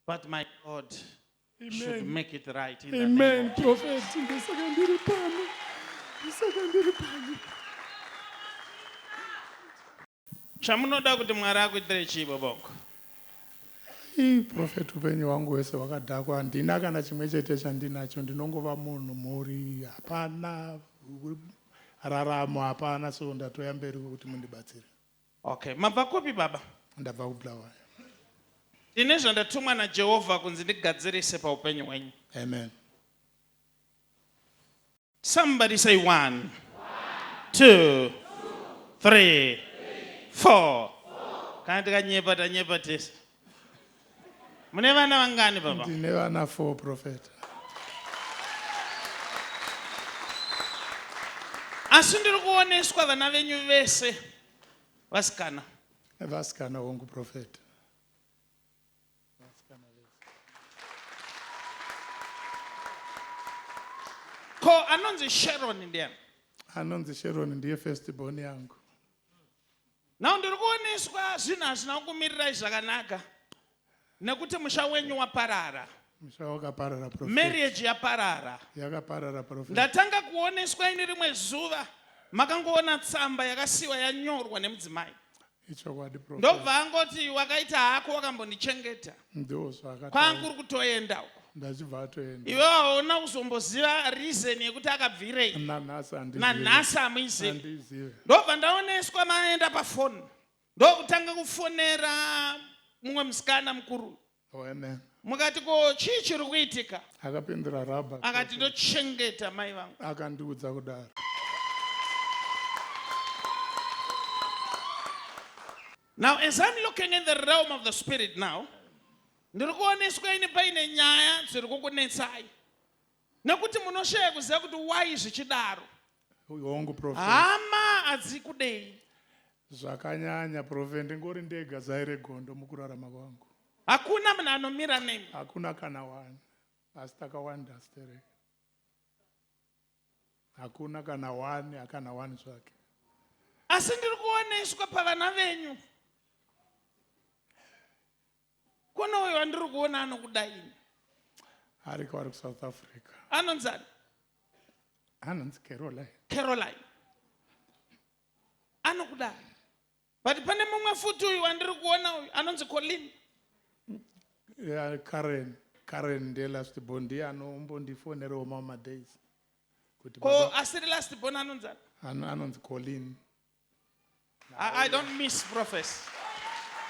But my God Amen. should make it right in Amen. the name of Prophet, ndisaka ndiri pano. Ndisaka ndiri pano. Chamunoda kuti Mwari akuitire chii boboko? Ii prophet upenyu hwangu hwese hwakadhakwa handina kana chimwe chete chandinacho ndinongova munhu mhuri hapana raramo hapana so ndatoya mberi kuti mundibatsire. Okay, mabva kupi baba? Ndabva kuBulawayo. Ndine zvandatumwa naJehovha kunzi ndigadzirise paupenyu hwenyu. Amen. Somebody say one, two, three, four. Kana tikanyepa tanyepa tese. mune vana vangani baba ndine vana four profeta asi ndiri kuoneswa vana venyu vese vasikana vasikana hongu profeta ko anonzi sharon ndiani anonzi sharon ndiye first born yangu Now ndiri kuoneswa zvinhu hazvina kukumirirai zvakanaka nekuti musha wenyu waparara musha wakaparara prophet marriage yaparara yakaparara prophet ndatanga kuoneswa ini rimwe zuva makangoona tsamba yakasiwa yanyorwa nemudzimai ichokwadi prophet ndobva angoti wakaita hako wakambondichengeta kwangu uri kutoenda uko ndachibva atoenda iwe waona kuzomboziva reason yekuti akabvirei nanhasi amuizivi ndobva ndaoneswa maenda pafoni ndokutanga kufonera mumwe musikana mukuru oh, mukati ko chii chiri kuitika akapindura raba akati ndochengeta mai vangu akandiudza kudaro Now as I'm looking in the realm of the spirit now, ndiri kuoneswa ini paine nyaya dziri kukunetsai nekuti munoshaya kuziva kuti why zvichidaro. Hongu prophet. Hama adzikudei. Zvakanyanya prophet ndingori ndega zai regondo mukurarama kwangu. Hakuna munhu anomira nemi. Hakuna kana wani. Asi takawanda stereka. hakuna kana wani akana wani zvake asi ndiri kuoneswa pavana venyu kune uyo wandiri kuona anokuda ini ariko ari kusouth africa anonzani anonzi caroline caroline anokuda But pane mumwe futi uyu wandiri kuona uyu anonzi Colin. Yeah, Karen. Karen ndiye last born ndiye anombondifonerewo mamwe madays. Kuti Ko baba asiri last born anonzi ani? ano- anonzi Colin. I, I don't miss prophets.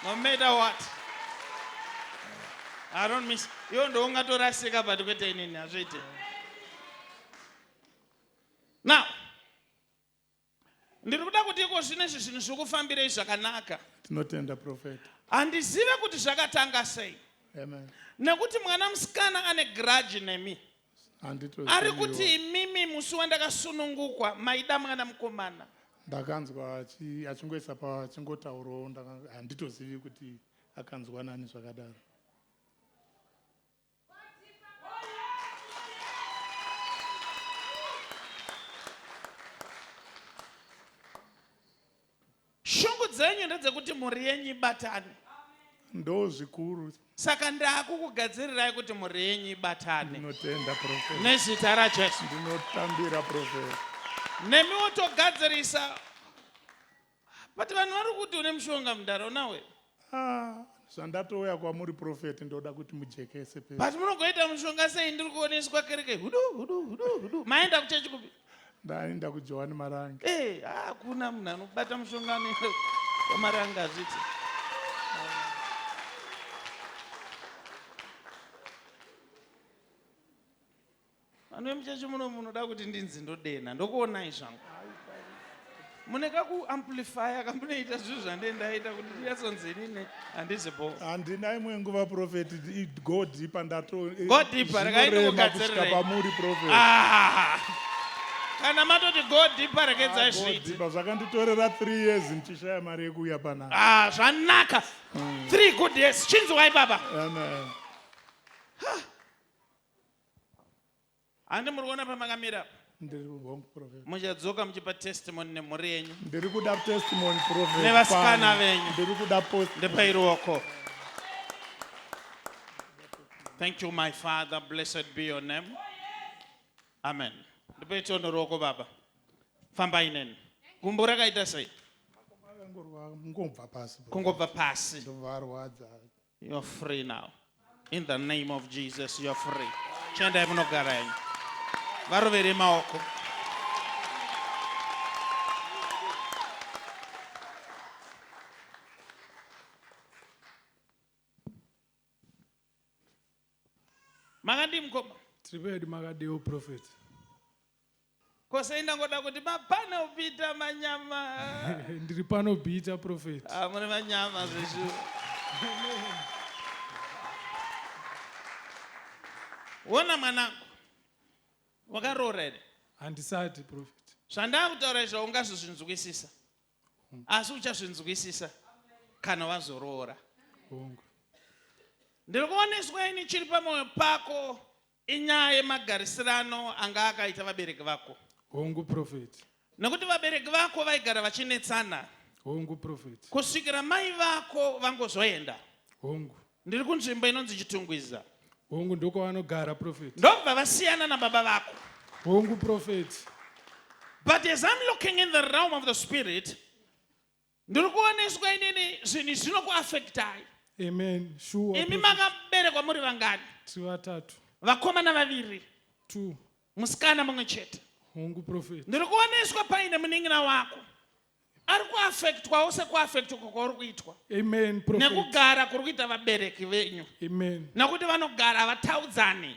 No matter what. I don't miss. Iwo ndo ungatorasika but kwete inini hazviite. Now, Ndiri kuda kuti iko zvino izvi zvinhu zvikufambirei zvakanaka. Tinotenda profeta. Handizive kuti zvakatanga sei. Amen. Nekuti mwana musikana ane grudge nemi. Ari kuti imimi musi wandakasunungukwa maida mwana mukomana. Ndakanzwa achingoisa pachingotaurawo handitozivi kuti akanzwa nani zvakadaro. shungu dzenyu ndedzekuti mhuri yenyu ibatane ndo zvikuru saka ndakukugadzirirai kuti mhuri yenyu ibatane ndinotenda profesa nezita rajesu ndinotambira profesa nemiwo togadzirisa But vanhu vari kuti une mushonga mdara unawe. Ah, zvandatouya kwamuri prophet ndoda kuti mujekese pe. But munogoita mushonga sei ndiri kuoneswa kereke hudu hudu hudu hudu. Maenda kuchechi kupi? Ndaenda kuJohani Marange. Eh, hakuna ah, munhu anobata mushonga anoenda kwaMarange azviti. Vanhu vemuchechi muno munoda kuti ndinzi ndodenha ndokuonai zvangu. Mune kakuamplifaya kamunoita zvinhu zvandendaita kuti ndiyatsonzi inini handizi bo. Handina imwe nguva prophet go deeper ndato. Eh, go deeper regai ndikugadzirirei. Pamuri prophet. Ah. Kana matoti go deeper regedzai ah, zviiti. Zvakanditorera 3 years ndichishaya mari yekuuya panapa. Ah zvanaka. 3 hmm. good years chinzwai baba. Amen. handi muri kuona pamakamira apa ndiri wrong prophet muchadzoka muchipa testimony nemhuri yenyu ndiri kuda testimony prophet nevasikana venyu ndiri kuda post ndepai ruoko thank you my father blessed be your name amen ndipai tiono ruoko baba fambai neni gumbo rakaita sei kungobva pasi kungobva pasi ndovarwadza You are free now. In the name of Jesus, you are free. Chiendai munogara henyu. Varovere maoko. Makadii mukoma? Tiri pedi makadii prophet. Ko sei ndangoda kuti mapano Peter manyama. Ndiri pano Peter prophet. Ah muri manyama zveshu. Wona mwanangu. Wakaroora here? Handisati prophet. Zvandakutaura izvo ungazozvinzwisisa. Asi uchazvinzwisisa kana wazoroora. Hongu. Ndiri kuoneswa ini chiri pamwoyo pako. Inyaya yemagarisirano anga akaita vabereki vako. Hongu prophet. Nekuti vabereki vako vaigara vachinetsana. Hongu prophet. Kusvikira mai vako vangozoenda. Hongu. Ndiri kunzvimbo inonzi Chitungwiza. Hongu ndoko vanogara prophet. Ndobva vasiyana nababa vako. Hongu prophet. But as I'm looking in the realm of the spirit, ndiri kuoneswa inini zvinhu zvinokuafektai amen sure imi makaberekwa muri vangani tiri vatatu vakomana vaviri two musikana mumwe chete hongu profet ndiri kuoneswa paine munin'ina wako ari kuafektwawo sekuafektwa kwauri kuitwa amen nekugara kuri kuita vabereki venyu amen nekuti vanogara havataudzani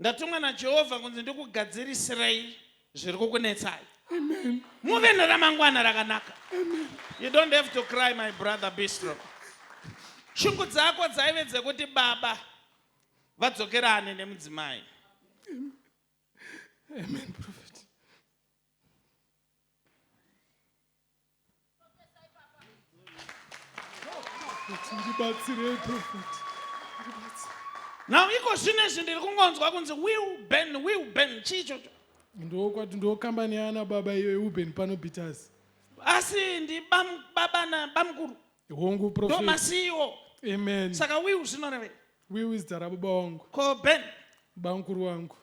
Ndatumwa naJehovha kunzi ndikugadzirisirei zviri kukunetsai. Amen. Muve neramangwana rakanaka. Amen. You don't have to cry my brother be strong. Shungu dzako dzaive dzekuti baba vadzokerane nemudzimai. Amen. Amen. now iko zvino izvi ndiri kungonzwa kunzi wilben wilben chii chocho ndokwati ndokambani yaana baba iyo yeuben pano bitas asi ndi babana bamukuru hongu ndomasiiwo amen saka will zvinorevei will is dara baba wangu ko ben bamukuru wangu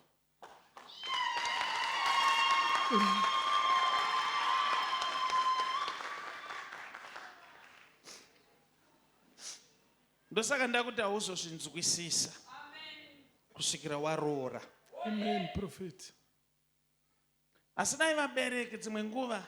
ndosaka ndakuti hauzozvinzwisisa kusvikira waroora amen prophet asi dai vabereki dzimwe nguva